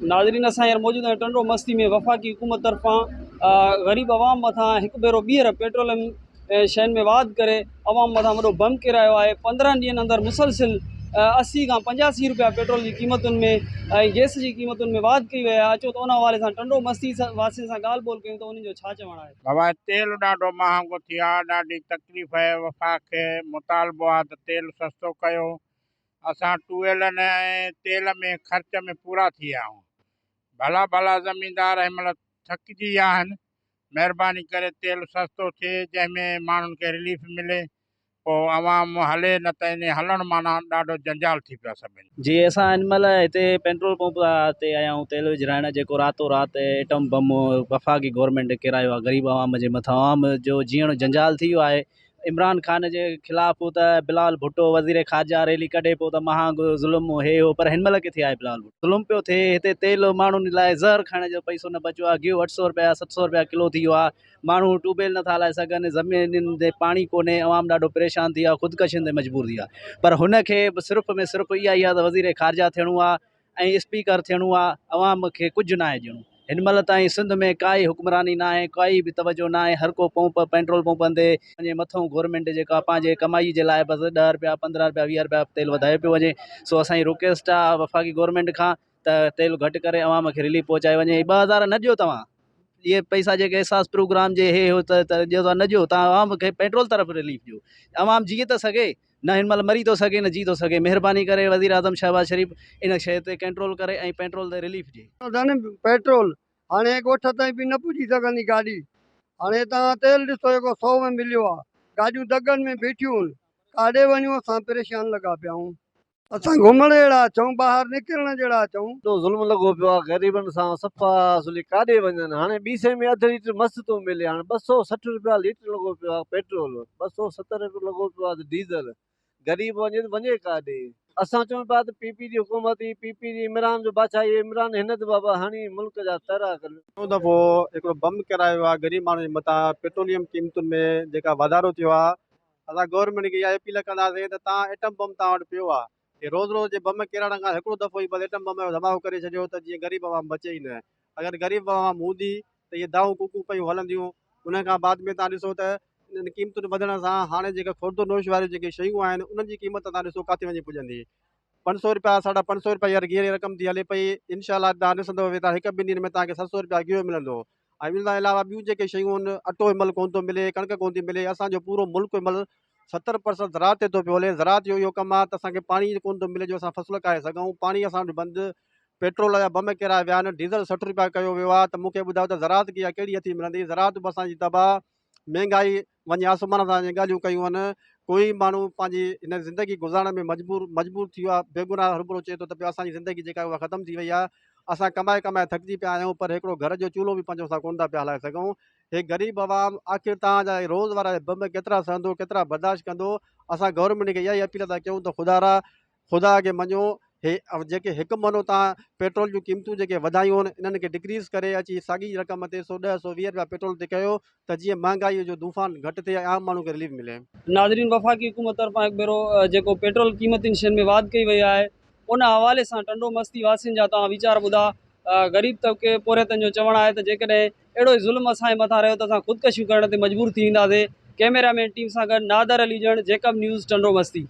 ناظرين اسان هينئر موجود آهيون ٽنڊو مستي ۾ وفاقي حڪومت طرفان غريب عوام مٿان هڪ ڀيرو ٻيهر پيٽروليم شين ۾ واڌ ڪري عوام مٿان وڏو بم ڪيرايو آهي پندرهن ڏينهن اندر مسلسل اسي کان پنجاسي روپيا پيٽرول جي قيمتن ۾ ۽ گيس جي قيمتن ۾ واڌ ڪئي وئي آهي اچو ته ان حوالي سان ٽنڊو مستي واسين سان ڳالهه ٻولهه ڪيون ته انهن جو ڇا چوڻ آهي. بابا تيل ڏاڍو مهانگو ٿي آ ڏاڍي تڪليف اهي وفاق کي مطالبو آ ته تيل سستو ڪيو اسان ٽوئلن ۽ تيل ۾ خرچ ۾ پورا ٿي ويا آهيون. ڀلا ڀلا زميندار هن مهل ٿڪجي ويا آهن. مهرباني ڪري تيل سستو ٿئي جنهن ۾ ماڻهن کي رليف ملي. پوء عوام هلي نه ته انهي هلڻ معنيٰ ڏاڍو جنجال ٿي پيو سڀني. جي اسان هن مهل هتي پينٽرول پمپ تي آيا آهيون تيل وجهرائڻ جيڪو راتو رات ايٽم بم وفاقي گورنمينٽ ڪيرايو آهي غريب عوام جي مٿان. عوام جو جيئڻ جنجال ٿي ويو آهي. عمران خان جي خلاف هو ته بلال ڀٽو وزير خارجه ريلي ڪڍي پيو ته مهانگو ظلم هي هو پر هن مهل ڪٿي آهي بلال ڀٽو ظلم پيو ٿئي هتي تيل ماڻهن لاء زهر کائڻ جو پئسو نه بچيو آهي گيهو اٺ سئو رپيا ست سئو رپيا ڪلو ٿي ويو آهي ماڻهو ٽوبيل نٿا هلائي سگهن زمينن تي پاڻي ڪونهي عوام ڏاڍو پريشان ٿي ويو آهي خودڪشين تي مجبور ٿي ويو آهي پر هن کي صرف ۾ صرف اها ئي آهي ته وزير خارجه ٿيڻو آهي ۽ اسپيڪر ٿيڻو آ عوام کي ڪجھ ناهي ڏيڻو هن مهل تائين سنڌ ۾ ڪائي حڪمراني ناهي ڪائي به توجه ناهي هر ڪو پمپ پينٽرول پمپن تي وڃي مٿئون گورمينٽ جيڪا پنهنجي ڪمائي جي لاء بس ڏهه رپيا پندرهن رپيا ويهه رپيا تيل وڌايو پيو وڃي سو اسان جي رڪويسٽ آ وفاقي گورمينٽ کان ته تيل گهٽ ڪري عوام کي رليف پهچائي وڃي ٻه هزار نه ڏيو توهان اهي پئسا جيڪي احساس پروگرام جي هي هو ته ڏيو نه ڏيو تان عوام کي پيٽرول طرف رليف ڏيو عوام جيئي ته سگهي نه هن مهل مري ٿو سگهي نه جي ٿو سگهي مهرباني ڪري وزيراعظم شهباز شريف ان شيء تي ڪنٽرول ڪري ۽ پيٽرول تي رليف ڏي. ڌڻي پيٽرول هاڻي ڳوٺ تائين به نه پڄي سگهندي گاڏي هاڻي توهان تيل ڏسو جيڪو سو ۾ مليو آ گاڏيون دڳن ۾ بيٺيون هن ڪاڏي وڃون اسان پريشان لڳا پيا آهون اسان گهمڻ جهڙا اچون، ٻاهر نڪرڻ جهڙا اچون. ايڏو ظلم لڳو پيو آ غريبن سان، صفا سولي ڪاڏي وڃن، هاڻي ٻي سئي ۾ اڌ ليٽر مس ٿو ملي، هاڻي ٻه سؤ سٺ رپيا ليٽر لڳو پيو آ پيٽرول، ٻه سؤ ستر رپيا لڳو پيو آ ته ڊيزل، غريب وڃي ته وڃي ڪاڏي؟ اسان چون پيا ته پي پي جي حڪومت ئي پي پي جي عمران جو بادشاهي عمران هن ته بابا هڻي ملڪ جا ترا ڪن. ٽيون دفعو هڪڙو بم ڪرايو آ غريب ماڻهن جي مٿان پيٽروليم قيمتن ۾ جيڪا واڌارو ٿيو آ. اسان گورنمينٽ کي اها اپيل ڪنداسين ته تان ايٽم بم تان وٽ پيو آهي تي روز روز جي بم ڪيراڙڻ کان هڪڙو دفعو ئي بس ايٽم بم جو ڌماڪو ڪري ڇڏيو ته جيئن غريب عوام بچي ئي نه اگر غريب عوام هوندي ته اهي دانهون ڪوڪون پيون هلنديون انهن کان بعد ۾ تان ڏسو ته انهن قيمتن وڌڻ سان هاڻي جيڪا خوردو نوش واريون جيڪي شيون آهن انهن جي قيمت تان ڏسو ڪاٿي وڃي پڄندي پنج سو روپيا ساڍا پنج سو روپيا هينئر گيهه جي رقم ٿي هلي پئي انشاء الله تان ڏسندو ته هڪ ٻن ڏينهن ۾ تان کي ست سو روپيا گيهه ملندو ۽ ان کان علاوه ٻيون جيڪي شيون آهن اٽو به ملڪ ڪونه ٿو ملي ڪڻڪ ڪونه ٿي ملي اسانجو پورو ملڪ به ملڪ ستر پرسنٽ زراعت تي ٿو پيو هلي زراعت جو اهو ڪم آهي ته اسانکي پاڻي ڪونه ٿو ملي جو اسان فصل اگهائي سگهون پاڻي اسان وٽ بند پيٽرول جا بم ڪيرائي ويا آهن ڊيزل سٺ روپيا ڪيو ويو آهي ته مونکي ٻڌايو ته زراعت کي اها ڪهڙي هٿي ملندي زراعت به اسانجي تباهه مهنگائي وڃي آسمان سان جي ڳالهيون ڪيون هن ڪوئي ماڻهو پنهنجي هن زندگي گذارڻ ۾ مجبور مجبور ٿي ويو آهي بيگناهه هرڀرو چئي ٿو ته پيو اسان جي زندگي جيڪا آهي اها ختم ٿي وئي آهي اسان ڪمائي ڪمائي ٿڪجي پيا آهيون پر هڪڙو گهر جو چولهو به پنهنجو اسان ڪونه ٿا پيا هلائي سگهون هي غريب عوام آخر تان جا روز وارا بم ڪيترا سهندو ڪيترا برداشت ڪندو اسان گورنمينٽ کي اها ئي اپيل ٿا ڪيون ته خدارا خدا کي مڃو هي جيڪي هڪ مھينو تان پيٽرول جون قيمتون جيڪي وڌايون هن انهن کي ڊڪريز ڪري اچي ساڳي رقم تي سو ڏهه سو ويهه رپيا پيٽرول تي ڪيو ته جيئن مهانگائي جو دونفان گهٽ ٿئي ۽ عام ماڻهو کي رليف ملي. ناظرين وفاقي حڪومت طرفان هڪ ڀيرو جيڪو پيٽرول قيمتين شين ۾ واڌ ڪئي وئي آهي ان حوالي سان ٽنڊو مستي واسين جا توهان ويچار ٻڌا غريب طبقي پورهيتن جو چوڻ آهي ته جيڪڏهن اهڙو ئي ظلم اسان جي مٿان رهيو ته اسان خودڪشيون ڪرڻ تي مجبور ٿي وينداسين ڪئميرا مين ٽيم سان گڏ نادر علي ڄڻ جيڪب نيوز ٽنڊو مستي.